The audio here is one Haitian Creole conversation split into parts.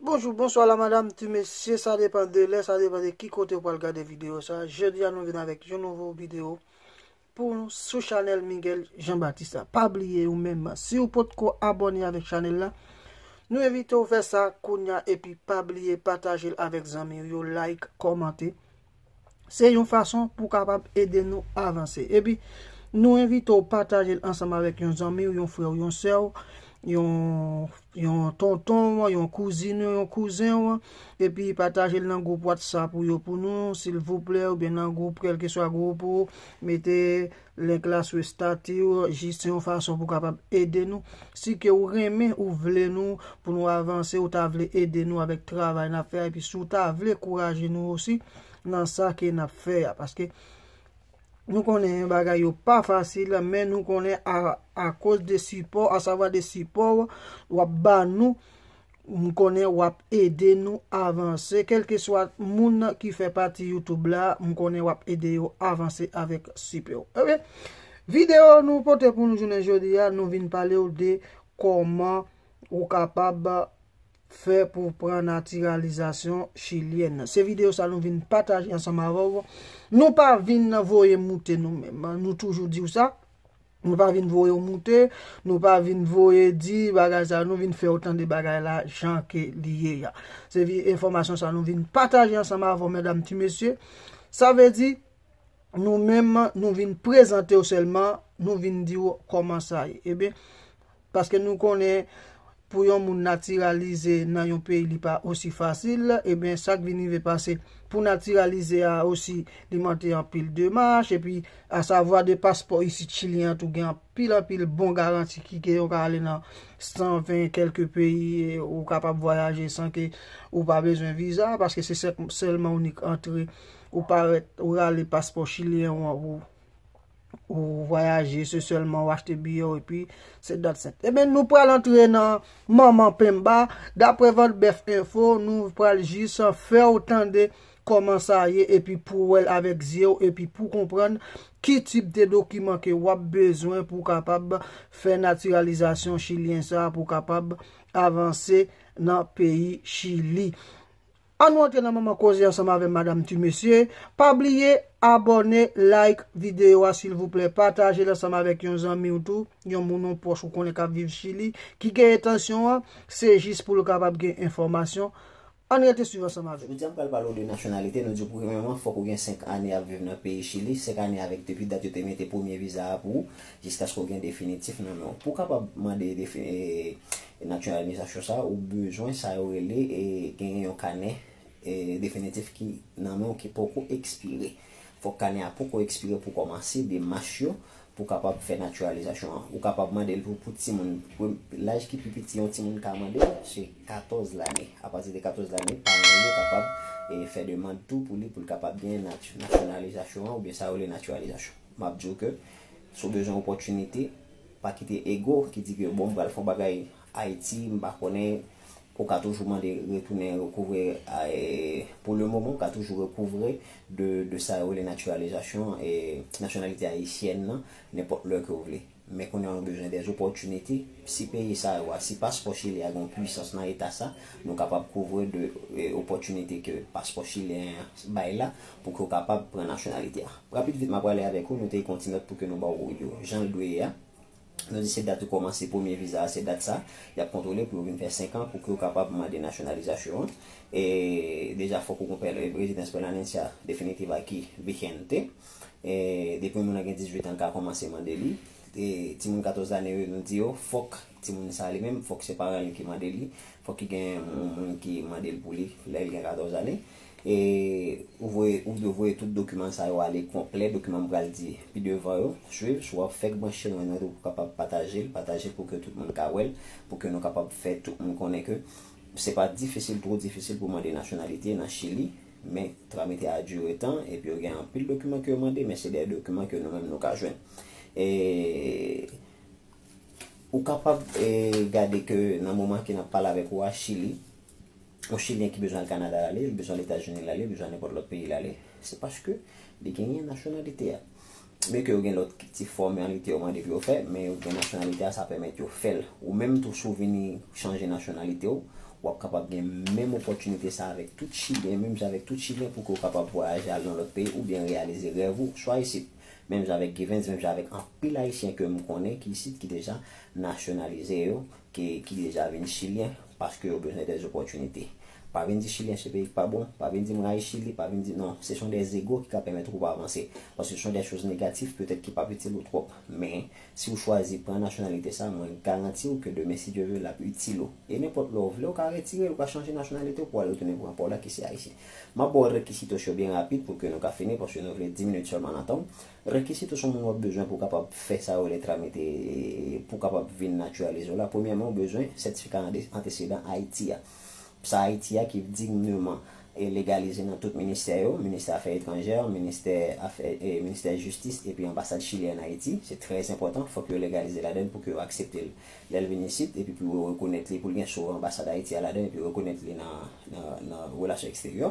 Bonjou, bonswa la madam, ti mesye, sa depan de lè, sa depan de ki kote ou pral gade video sa, je di a nou vin avèk yon nouvo video pou nou sou chanel Miguel Jean Baptiste la. Pa bliye ou menm, si ou pot ko abone avèk chanel la, nou evite ou fè sa kounya epi pa bliye pataje l avèk zanmi ou yo, like, komante. Se yon fason pou kapab ede nou avanse. Epi, nou envite ou pataje l ansanm avèk yon zanmi ou, yon frè ou, yon sè ou, yon tonton ou, yon kouzin ou, yon kouzen ou, epi pataje l nan gwoup WhatsApp ou yo pou nou, silvouplè, oubyen nan gwoup, kèlkeswa gwoup ou, mete. Link la sou estati ou, jis se yon fason pou kapab ede nou. Si ke ou renmen, ou vle nou pou nou avanse, ou ta vle ede nou avèk travay nap fè a, epi si ou ta vle kouraje nou osi nan sa ke nap fè a. Paske nou konnen bagay yo pa fasil, men nou konnen a koz de sipò, a savwa de sipò ou, wap ba nou. M konnen wap ede nou avanse kelkeswa moun ki fè pati YouTube la m konnen wap ede yo avanse avèk sipè w ok video nou pote pou nou jounen jodi a nou vin pale w de kòman ou kapab fè pou w pran natiralizasyon chilyèn se video sa nou vin pataje ansanm avè w nou pa vin voye moute nou menm nou toujou di w sa. Nou pa vin voye w moute, nou pa vin voye di bagay sa, nou vin fè w tande bagay la jan ke li ye a. Se vi enfòmasyon sa nou vin pataje ansanm avè w medam ti mesye. Sa vle di, nou menm nou vin prezante w sèlman, nou vin di w kòman sa ye. Eben, Paske nou konnen pou yon moun natiralize nan yon peyi li pa osi fasil, eben sak vin rive pase pou natiralize a osi li mante anpil demach, epi a savwa de paspò isit chilyen an tou gen anpil anpil bon garanti ki ke ou ka ale nan 120 kelke peyi e ou kapab vwayaje san ke ou pa bezwen viza, paske se sèlman ou nik antre ou parèt ou rale paspò chilyen ou an pou. Ou vwayaje, se selman ou achte biye ou epi se dat sent. Eben nou pral antre nan manman penba, dapre vant bèf enfo, nou pral jis an fè ou tande koman sa ye epi pou wèl avèk zye ou epi pou konprann ki tip de dokiman ke wap bezwen pou kapab fè natiralizasyon chilyen sa pou kapab avanse nan peyi chili. An nou antre nan manman koze ansanm avèm madam tu mesye pa bliye abòne like video a silvouplè patajel ansanm avèk yon zanmiw tou yon moun yon pwòch ou konnen kap viv chili ki gen entansyon an se jis poul kapab gen enfòmasyon ann rete swiv ansanm avèm. Jodia m pral pale w de nasyonalite nou di w premyèman fòk ou gen 5 ane ap viv nan peyi chili 5 ane avèk depi dat yo te mete premye viza a pou ou jiskaske w gen definitif nan men w pou w kapab mande E nan aksyon reyabilitasyon sa ou bezwen sa yo rele e genyen yon kanè e definitif ki nan men w ki poko ekspire. Fòk kanè a poko ekspire pou w kòmanse demach yo pou w kapab fè natiralizasyon an. Ou kapab mande l pou timoun. Laj ki pi piti yon timoun ka mande se 14 lane. Apati de 14 lane, paran l yo kapab e fè demand tou pou li pou l kapab genyen nasyonalizasyon an oubyen sa yo rele natiralizasyon. M ap di w ke si w bezwen opòtinite, Pa kite ego ki di ke bon m pral fon bagay Ayiti m pa konnen ou ka toujou mande retounen rekouvre pou le moman ou ka toujou rekouvre de sa yo rele naturalisation nationalité haïtienne nan nenpòt lè ke ou vle men kounye a nou bezwen des opportunités si peyi sa yo a si paspò chilyen a gen yon puissance nan eta sa nou kapab kouvre de opportunités ke paspò chilyen an bay la Pou ke w kapab pran nasyonalite a. Rapid vit m a prale avèk ou note kon ti nòt pou ke nou ba w yo jan l dwe ye a. Nou di se dat ou kòmanse premye viza a, se dat sa y ap kontwole pou yo vin fè 5 an pou ke w kapab mande nasyonalizasyon an. E deja fòk ou gon rezidans pèmanencia definitiva aki vigente. E depi yon moun an gen 18 an l ka kòmanse mande li. E ti moun 14 lane yo nou di yo fòk ti moun sa li menm fòk se paran li ki mande li. Fòk ki gen yon moun ki mande l pou li lè l gen 14 ane. E ou voye, ou dwe voye tout dokiman sa yo ale konplè, dokiman m pral di pi devan yo. Swiv, si w ap fèk branche mwen nan tou pou kapab pataje l, pataje l pou ke tout moun ka wè l, pou ke nou kapab fè tout moun konnen ke se pa difisil, two difisil pou mande nasyonalite nan Chili, men tramite a dire tan, epi yo gen anpil dokiman ke yo mande, men se de dokiman ke nou menm nou ka jwenn. E ou kapab gade ke nan moman ke n ap pale avèk ou a, Chili. yon chilyen ki bezwen al Kanada l ale, li bezwen al Etazini l ale, li bezwen al nenpòt lòt peyi l ale, se paske li genyen nasyonalite a. Byen ke yo gen lòt ti fòmalite yo mande pou yo fè, men yo gen nasyonalite a, sa pèmèt yo fè l. Ou menm tou si w vini chanje nasyonalite w, w ap kapab gen menm opòtinite sa avèk tout chilyen, menm jan avèk tout chilyen pou ke w kapab vwayaje al nan lòt peyi oubyen reyalize rèv ou swa isit. Menm jan avèk Givens, menm jan avèk anpil ayisyen ke m konnen ki isit ki deja nasyonalize yo. ki deja vin chilyen paske yo bezwen des opòtinite pa vin di chilyen se peyi ki pa bon pa vin di m rayi chili pa vin di non se son des ego ki ka pèmèt ou pa vanse paske se son des choz negatif petèt ki pap itil ou twòp men si ou chwazi pran nasyonalite sa mwen garanti ou ke demen si Dye ve lap itil ou e nenpòt lè ou vle ou ka retire l ou ka chanje nasyonalite ou pou al retounen pran paw la ki se ayisyen map ba w rekisitos yo byen rapid pou ke nou ka fini paske nou vle 10 minit sèlman nan tan w Rekisi tou son moun wap bezwen pou kapab fè sa yo rele tramite pou kapab vin naturalize w la. Premyèman ou bezwen sètifika antesedan Ayiti a. Psa Ayiti a ki digneman legalize nan tout ministè yo, ministè afè etranjè, ministè afè ministè jistis epi anbasad chili an Ayiti. Se trè enpòtan fòk yo legalize ladann pou ke yo aksepte l lè l vin isit epi pou yo rekonèt li pou l gen sou anbasad Ayiti a ladan epi rekonèt li nan relasyon eksteryè.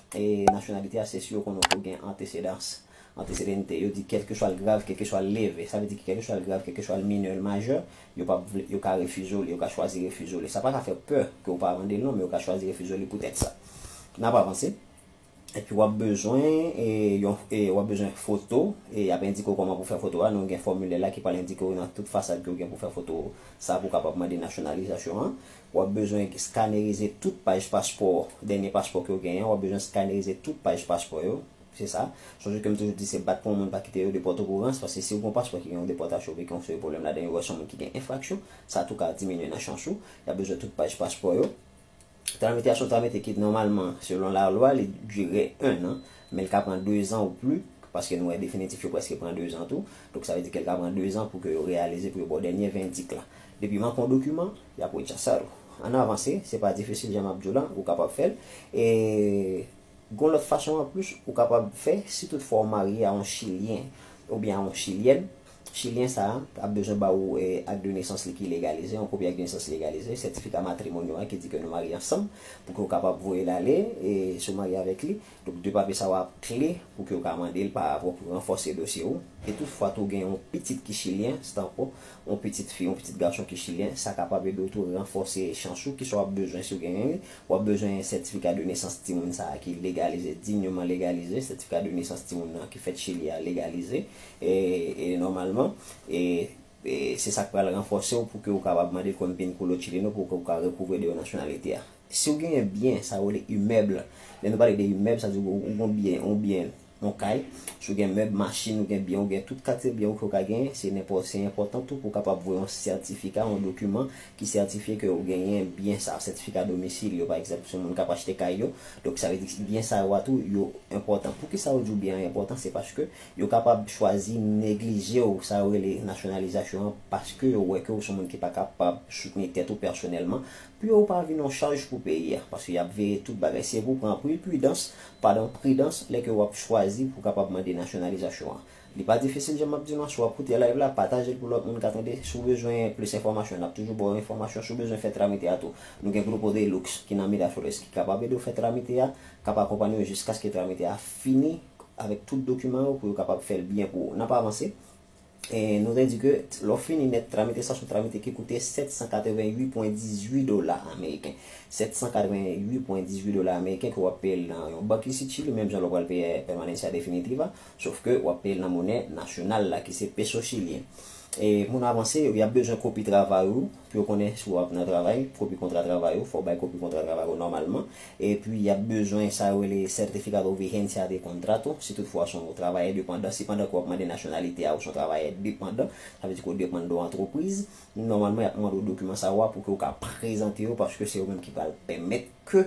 Nasyonalite a se si yo konnen w fòk gen antesedans, antesedente. Yo di kèlkeswa l grav, kèlkeswa l leve. Sa vle di kèlkeswa l grav, kèlkeswa l minè, l majè, yo p ap vle, yo ka refize w li, yo ka chwazi refize w li. Sa pa ka fè pè ke w pa mande l non, men yo ka chwazi refize w li poutèt sa. N ap avanse. Epi w ap bezwen yon, w ap bezwen foto. Y ap endike w kòman pou w fè foto a. Nou gen fòmilè la ki pral endike w nan tout fasad ke w gen pou w fè foto sa pou w kapab mande nasyonalizasyon an. W ap bezwen skanerize tout paj paspò, dènye paspò ke w genyen an, w ap bezwen skanerize tout paj paspò yo, se sa. Sonje ke m toujou di se bat pou yon moun pa kite yo depòte w pou rans, paske si w gen yon paspò ki gen yon depòtasyon oubyen ki gen yon seri pwoblèm ladan yo, wè si yon moun ki gen enfraksyon, sa tou ka diminye nan chans ou. Y ap bezwen tout paj paspò yo. Tramitasyon ta mete ki nòmalman, selon lalwa, li dire ennan, Men l ka pran dezan ou pli, paske nou wè definitif yo prèske pran dezan tou. Donk sa vle di ke l ka pran dezan pou ke yo reyalize, pou yo ba w dènye vendik la. Depi w manke yon dokiman, y ap rechasal ou. Ann avanse, se pa difisil jan m ap di w la, ou kapab fè l. E gen yon lòt fason anplis ou kapab fè, si tout fwa ou marye a yon chilyen oubyen a yon chilyèn, chilyen sa a ap bezwen ba ou ak de nesans li ki legalize, yon kopi ak de nesans legalize, sètifika matrimonyo a ki di ke nou marye ansanm, pou ke ou kapab voye l ale, e si w marye avèk li. Donk de papye sa yo ap kle pou ke ou ka mande l pa apre pou ranfòse dosye ou. E tout fwa tou gen yon pitit ki chilyen, se tankou yon pitit fi, yon pitit gason ki chilyen, sa kapab ede w tou ranfòse chans ou. Kisa w ap bezwen si w genyen li? W ap bezwen sètifika de nesans timoun sa a ki legalize, dignement legalize, sètifika de nesans timoun nan ki fèt Chili a legalize e nòmalman. E se sa k pral ranfòse w pou ke ou kapab mande l konbyen koulo chileno pou ke ou ka rekouvre de yon nasyonalite a. Si ou genyen byen, sa yo rele imèb. Lè nou pale de imèb, sa di ou gon byen, yon byen, yon kay. Si ou gen mèb, machin, ou gen byen, ou gen tout kalite byen ou ke ou ka genyen, se nenpò, se enpòtan tou pou ou kapab voye yon sètifika, yon dokiman ki sètifye ke ou genyen byen sa a, sètifika domisil yo pa egzanp, si yon moun kap achte kay yo. Donk sa vle di byen sa yo a tou yo enpòtan. Poukisa yo di ou byen an enpòtan? Se paske yo kapab chwazi neglije ou, sa yo rele nasyonalizasyon an, paske yo wè ke ou se yon moun ki pa kapab soutni tèt ou pèsonèlman. Pou yo pa vin yon chaj pou peyi a. Paske yap veye tout bagay. Se pou pran pri pidans, padan pridans lè ke wap chwazi pou kapab mande nasyonalizasyon an. Li pa difisil jan map di nou an, si wap koute live la, patajel pou lòt moun ka tande. Si w bezwen plis enfòmasyon, nap toujou ba w enfòmasyon. Si w bezwen fè tramite a tou, nou gen Grupo de Lux ki nan Miraflores ki kapab ede w fè tramite a, kap akonpanye w jiskaske tramite a fini avèk tout dokiman yo pou yo kapab fè l byen pou ou. Nap avanse, Nou te di ke lè w fini nèt tramite sa, se yon tramite ki koute 788,18 dola ameriken. 788,18 dola ameriken ke w ap peye l nan yon bank isit Chili, menm jan lè w pral peye Permanencia Definitiva, sof ke w ap peye l nan monè nasyonal la ki se peso chilyen. Pou nou avanse, y ap bezwen kopi travay ou pou yo konnen si w ap nan travay, kopi kontra travay ou, fò w bay kopi kontra travay ou nòmalman. Epi, y ap bezwen sa yo rele Certificado Vigencia de Contrato, si tout fwa w s on travayè depandan. Si pandan ke w ap mande nasyonalite a ou s on travayè depandan, sa vle di ke w depann de yon antrepriz, nòmalman y ap mande w dokiman sa yo a pou ke w ka prezante yo paske se yo menm ki pral pèmèt ke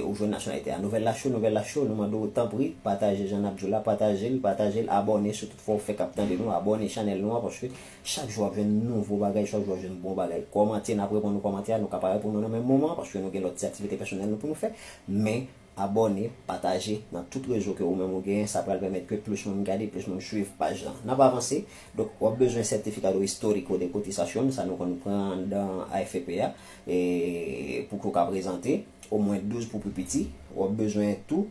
ou jwenn nasyonalite a. Nouvèl la cho, nouvèl la cho, nou mande w tanpri pataje jan n ap di w la, pataje l, pataje l, abòne si tout fwa ou fèk ap tande nou, abòne chanèl nou an paske Chak jou wap jwenn nouvo bagay, chak jou wap jwenn bon bagay. Kòmante, nap reponn ou kòmante a, nou ka pa reponn ou nan menm moman an, paske nou gen lòt ti aktivite pèsonèl nou pou nou fè, men abòne, pataje nan tout rezo ke ou menm ou genyen, sa pral pèmèt ke plis moun gade, plis moun swiv paj lan. Nap avanse, donk wap bezwen Certificado Histórico de Cotización, sa nou konn pran andan AFP a, e pou ke ou ka prezante, omwen 12 pou pi piti, wap bezwen tou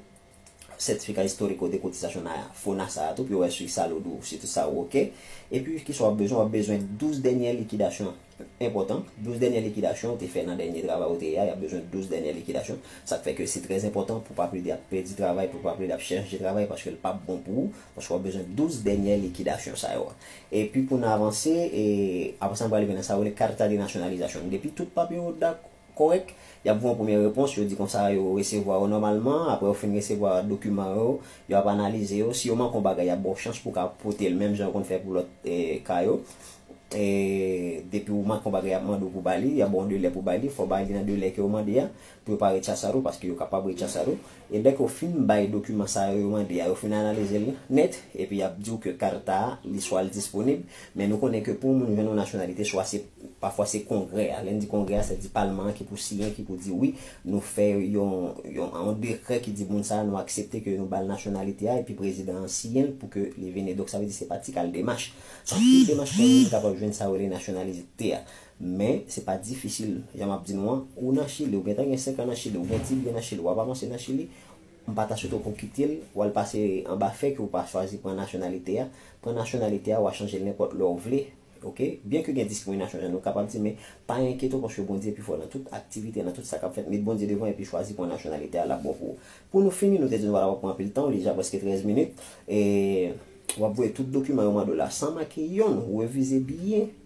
Certificat Histórico de Cotización na FONA sa a tou pou yo wè si salud ou, si tout sa ou ok. Epi kisa wap bezwen, wap bezwen 12 dènyè likidasyon enpòtan, 12 dènyè likidasyon ou te fè nan dènye travay ou te ye a, yap bezwen 12 dènyè likidasyon. Sak fè ke se trè enpòtan pou pa plede ap pèdi travay, pou pa plede ap chanje travay paske l pap bon pou ou, paske wap bezwen 12 dènyè likidasyon sa yo. Epi pou n avanse, apresa n pral rive nan sa yo rele Carta de Nacionalización. Depi tout papye yo dakò. kòrèk, y ap voye yon premye repons, yo di konsa yo resevwa yo nòmalman, aprè yo fin resevwa dokiman yo, yo ap analize yo, si yo manke yon bagay y ap ba w chans pou w ka pote l menm jan yo konn fè pou lòt ka yo, depi w manke yon bagay y ap mande w pou w ba li, y ap ba w yon delè pou w ba li, fò w ba li nan delè ke yo mande a, pou yo pa rechasa l ou, paske yo kapab rechasa l ou. E lè ke w fin bay dokiman sa yo yo mande a, yo fin analize l nèt, epi y ap di w ke Carta a, li swa li disponib, men nou konnen ke pou yon moun jwenn yon nasyonalite, swa se, pafwa se Kongrè a, lè n di Kongrè a, sèdi Palman an ki pou siyen, ki pou di wi, nou fè yon, yon, yon dekrè ki di moun sa a nou aksepte ke nou ba l nasyonalite a, epi Prezidan an siyen l pou ke li vini. Donk sa vle di se pa ti kal demach. Anpil demach pou yon moun kapab jwenn sa yo rele nasyonalite a. Men, se pa difisil, jan m ap di nou an, ou nan Chili, ou gentan gen 5 an nan Chili, ou gen ti byen nan Chili, w ap avanse nan Chili, m pa ta swete w pou w kite l, w al pase anba fè ke w pa chwazi pran nasyonalite a, pran nasyonalite a, w a chanje l nenpòt lè w vle, ok, byen ke gen diskriminasyon jan nou kapab di, men pa enkyete w paske Bondye pi fò nan tout aktivite, nan tout sa k ap fèt, met Bondye devan epi chwazi pran nasyonalite a, l ap bon pou ou. Pou nou fini, nou te di nou pa ta pran anpil tan, li deja prèske 13 minit, e w ap voye tout dokiman yo mande w la san manke yonn, revize byen.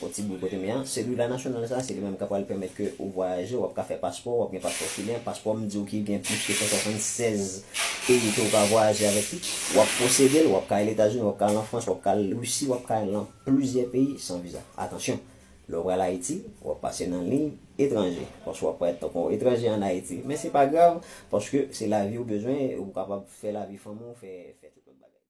Bon ti boul kote m ye a. Celula nasyonal sa se li menm kap pral pèmèt ke ou vwayaje, wap ka fè paspò, wap gen paspò chilyen, paspò m di w ki gen plis ke 176 peyi ke ou ka vwayaje avèk li, wap posede l, wap ka al Etazini, wap ka al an Frans, wap ka al Risi, wap ka al lan plizyè peyi san viza. Atansyon! Lè w pral Ayiti, wap pase nan liy etranje, paske wap parèt tankou yon etranje an Ayiti. Men se pa grav, paske se lavi ou bezwen, ou kapab fè lavi fanmi w, fè tout lòt bagay.